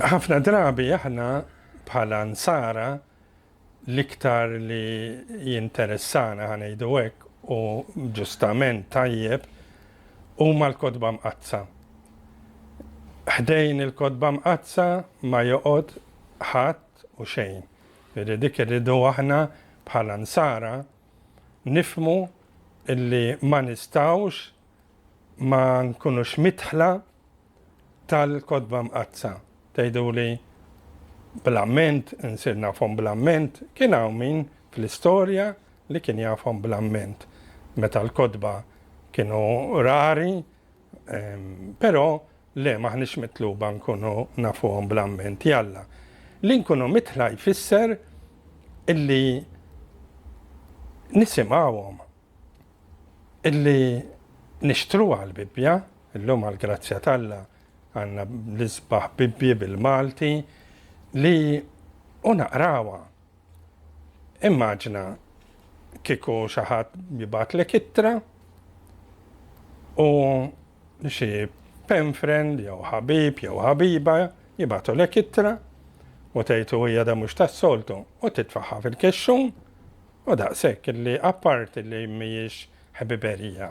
Ħafna drabi aħna bħala Nsara l-iktar li jinteressana ħa ngħidu hekk u ġustament tajjeb huma l-kotba mqaddsa. Ħdejn il-kotba mqaddsa ma joqgħod ħadd u xejn. Jiġifieri dik irridu aħna bħala Nsara nifhmu illi ma nistgħux ma nkunux midħla tal-Kotba Mqaddsa. Tgħiduli bl-amment, insir nafhom bl-amment, kien hawn min fl-istorja li kien jafhom bl-amment. Meta l-kotba kienu rari, Però le m'aħniex mitluba nkunu nafuhom bl-amment li Alla. Li nkunu mitħla jfisser illi nisimgħuhom, illi nixtruha l-Bibbja, illum għall-grazzja t'Alla għandna l-isbaħ Bibbji bil-Malti, li u naqrawha. Immaġina kieku xi ħadd jibgħatlek ittra u xi pen friend jew ħabib jew ħabiba jibgħatulek ittra u tgħidu hija da mhux tas-soltu u titfaħħa fil-kexxun u daqshekk li apparti li mhijiex ħbiberija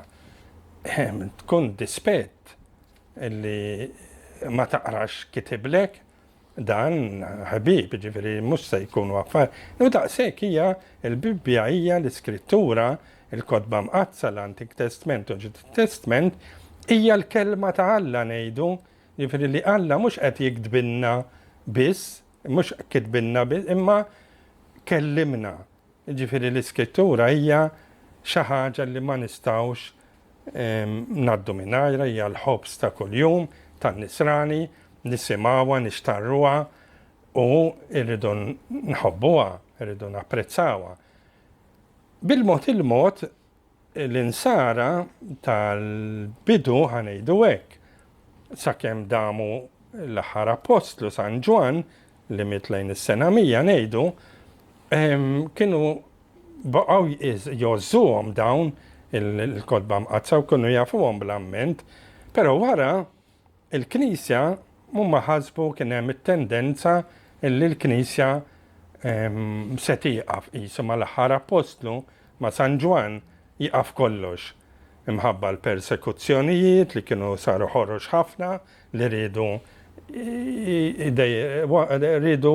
ehm, tkun dispett li ma taqrax kitiblek Dan ħbieb, jiġifieri mhux se jkunu affar. U daqshekk hija l-Bibbja hija l-Iskrittura, il-Kotba Mqaddsa, l-Antik Testment u l-Ġdid Testment, hija l-Kelma ta' Alla ngħidu, jiġifieri li Alla mhux qed jiktbilna biss, mhux kitbilna biss, imma kellimna. Jiġifieri l-Iskrittura hija xi ħaġa li ma nistgħux ngħaddu mingħajrha, hija l-ħobż ta' kuljum tan-Nisrani, nisimgħuha, nixtarruha u rridu nħobbuha, rridu napprezzawha. Bil-mod il-mod L-Insara tal-bidu, ħa ngħidu hekk, sakemm damu l-aħħar Appostlu, San Ġwann, li miet lejn is-sena 100 ngħidu, kienu baqgħu jgħożżuhom dawn il-Kotba Mqaddsa u kienu jafuhom bl-amment, però wara Il-Knisja, huma ħasbu kien hemm it-tendenza li l-Knisja se tieqaf qisu mal-aħħar Appostlu, ma' San Ġwann, jieqaf kollox. Imħabba l-persekuzzjonijiet li kienu saru ħorox ħafna li riedu riedu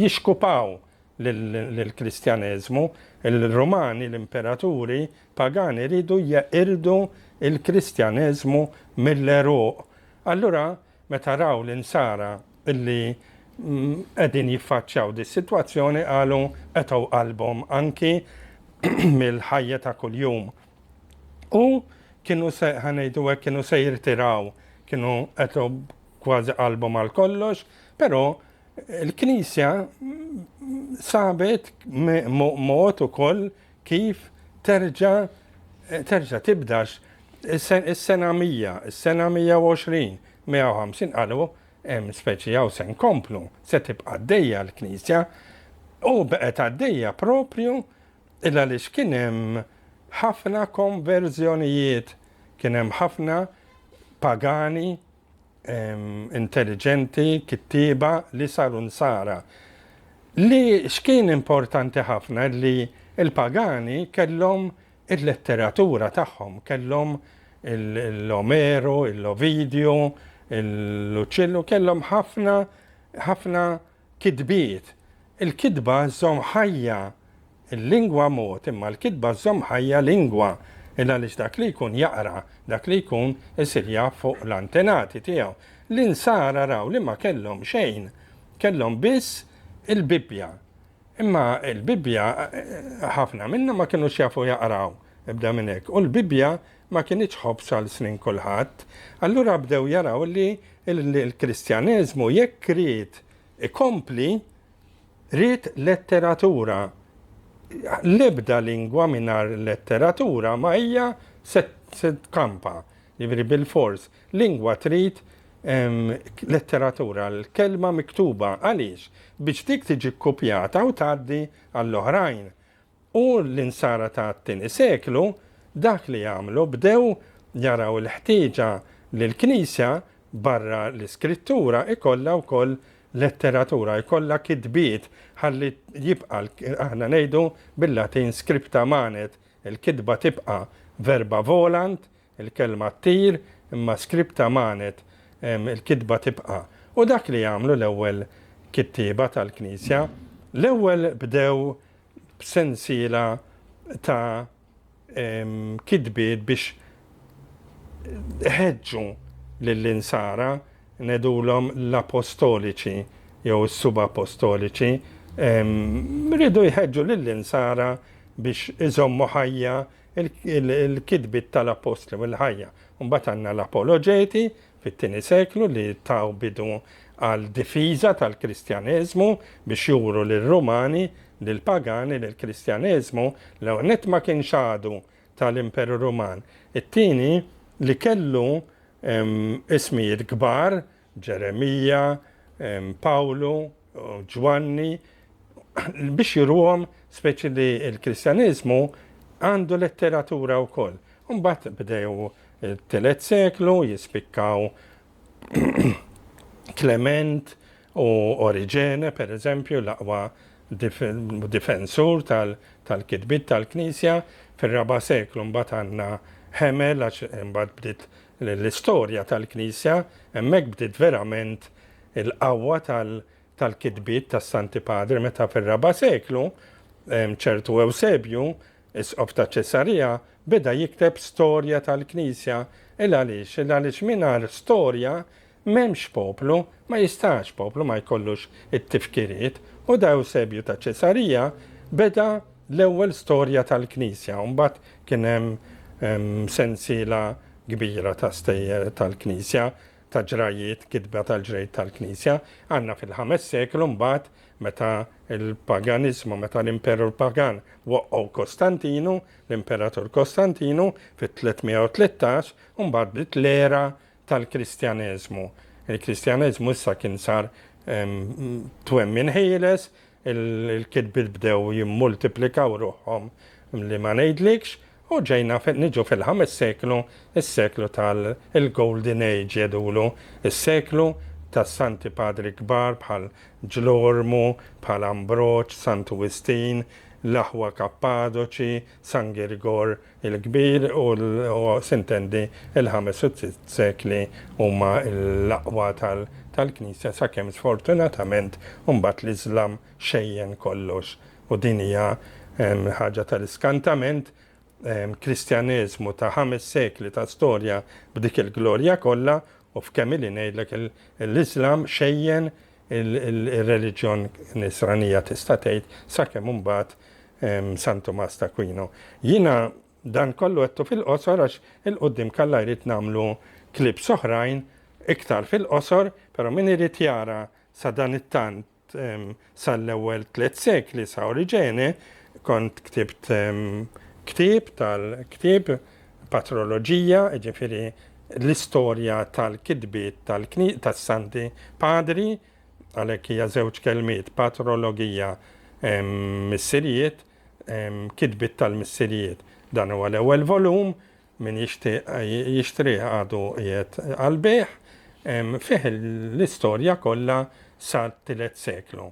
jixkupaw lill-Kristjaneżmu, il-Rumani, l-Imperaturi, pagani jridu jeqirdu l-Kristjaneżmu mill-għeruq. Allura meta raw l-Insara li qegħdin jiffaċċjaw dis-sitwazzjoni qalu qetgħu qalbhom anki mill-ħajja ta' kuljum. U kienu se ħa ngħidu hekk kienu se jirtiraw, kienu qetgħu kważi qalbhom għal kollox, però il-Knisja sabet mod ukoll Kif terġa' terġa' tibdax is-sena 100, is-sena 120, 150 qalu hemm speċi hawn se nkomplu, se tibqa' għaddejja l-Knisja. U bqgħet għaddejja proprju il għaliex kien hemm ħafna konverżjonijiet, kien hemm ħafna pagani intelliġenti, kittieba li saru nsara. Li x'kien importanti ħafna li l-pagani kellhom il-letteratura tagħhom, kellhom l-Omeru, l-Ovidju, l-Luċillu, kellhom ħafna ħafna Kitbiet, Il-kitba żżomm ħajja l-lingwa mod imma l-kitba żżomm ħajja lingwa il-għaliex dak li jkun jaqra, dak li jkun isir jaf fuq l-antenati tiegħu. L-Insara raw li ma kellhom xejn, kellhom biss il-Bibbja. Imma l-Bibbja ħafna minnhom ma kinux jafu jaqraw, ibda minn hekk, u l-Bibbja ma kinitx ħobż għal snin kulħadd, allura bdew jaraw li l-Kristjaneżmu jekk ried ikompli, ried letteratura. L-ebda lingwa mingħajr letteratura ma hija se tkampa, jiġifieri bilfors. Lingwa trid letteratura, l-kelma miktuba. Għaliex? Biex dik tiġi kkupjata u tgħaddi għall-oħrajn. U l-Insara tat-tieni seklu dak li għamlu, bdew jaraw il-ħtieġa li l-Knisja, barra l-Iskrittura, ikollha wkoll letteratura, ikollha kitbiet, ħalli jibqa', aħna ngħidu bil-Latin scripta manet, il-kitba tibqa', verba volant, Il-kelma ttir, imma scripta manet, il-kitba tibqa'. U dak li għamlu l-ewwel kittieba tal-Knisja, l-ewwel bdew b'sensiela ta' kitbiet biex iħeġġu lill-Insara, ngħidulhom l-Apostoliċi jew is-Subapostoliċi, riedu jħeġġu lill-Insara biex iżommu ħajja Il-kitbiet tal-Appostli u l-ħajja. Mbagħad għandna l-Apoloġeti fit-tieni seklu li taw bidu għal difiża tal-Kristjaneżmu biex juru lir-Rumani, lill-pagani li l-Kristjaneżmu l-ewwel nett ma kienx għadu tal-Imperu Ruman, it-tieni li kellu ismijiet kbar Ġeremija, Pawlu, Ġwanni, biex juruhom speċi li l-Kristjaniżmu għandu letteratura wkoll. Mbagħad bdew it-tielet seklu jispikkaw Klement u Oriġene, per eżempju, l-aqwa difensur tal-kitbiet tal-Knisja, fir-raba' seklu mbagħad għandna Hemel għax imbagħad bdiet li l-istorja tal-Knisja hemmhekk bdiet verament il-qawwa tal-kitbiet tas-Santi Padri meta fir-raba' seklu ċertu Ewsebju, Isqof ta' Ċesarija, beda jikteb storja tal-Knisja. Il għaliex? Il għaliex mingħajr storja M'hemmx poplu, ma jistax poplu ma jkollux it-tifkiriet, u da Ewsebju ta' Ċesarija beda l-ewwel storja tal-Knisja, u mbagħad kien hemm sensiela kbira ta' stejjer tal-Knisja, ta' ġrajjiet, kitba tal-ġrejt tal-Knisja. Għandna fil-ħames seklu mbagħad meta l-paganiżmu, meta l-Imperur Pagan waqqgħu Kostantinu, l-Imperatur Kostantinu, fit-313, u mbagħad bdiet l-era tal-Kristjaneżmu. Il-Kristjaneżmu issa kien sar twemmin ħieles, il-kitbiet bdew jimmultiplikaw ruħhom li ma ngħidlikx, u ġejna niġu fil-ħames seklu, is-seklu tal-Golden Age jgħidulu, is-seklu tas-Santi Padri kbar bħal Ġlormu, bħal Ambroġ, Santu Wistin, l-aħwa Kappadoċi, San Girgor, il-kbir u sintendi il-ħames u sitt sekli huma l-aqwa tal-Knisja sakemm sfortunatament imbagħad l-Iżlam xejjen kollox u din hija ħaġa tal-iskantament, Kristjaneżmu ta' ħames sekli ta' storja b'dik il-glorja kollha u f'kemm ili ngħidlek l-Iżlam xejjen Ir-reliġjon Nisranija tista' tgħid, sakemm imbagħad San Tumas t'Akwinu. Jiena dan kollu għedtu fil-qosor għax 'il quddiem kalla jrid nagħmlu clips oħrajn iktar fil-qosor, però min irid jara sadanittant sal-ewwel tliet sekli sa Oriġene, kont ktibt ktieb tal-ktieb, patroloġija, jiġifieri l-istorja tal-kitbiet tas-Santi Padri, għalhekk hija żewġ kelmiet, patrologia, missirijiet, kitbiet tal-missirijiet. Dan huwa l-ewwel volum, min jixtieq jixtrih għadu qiegħed għall-bejgħ, fih l-istorja kollha sat-tielet seklu.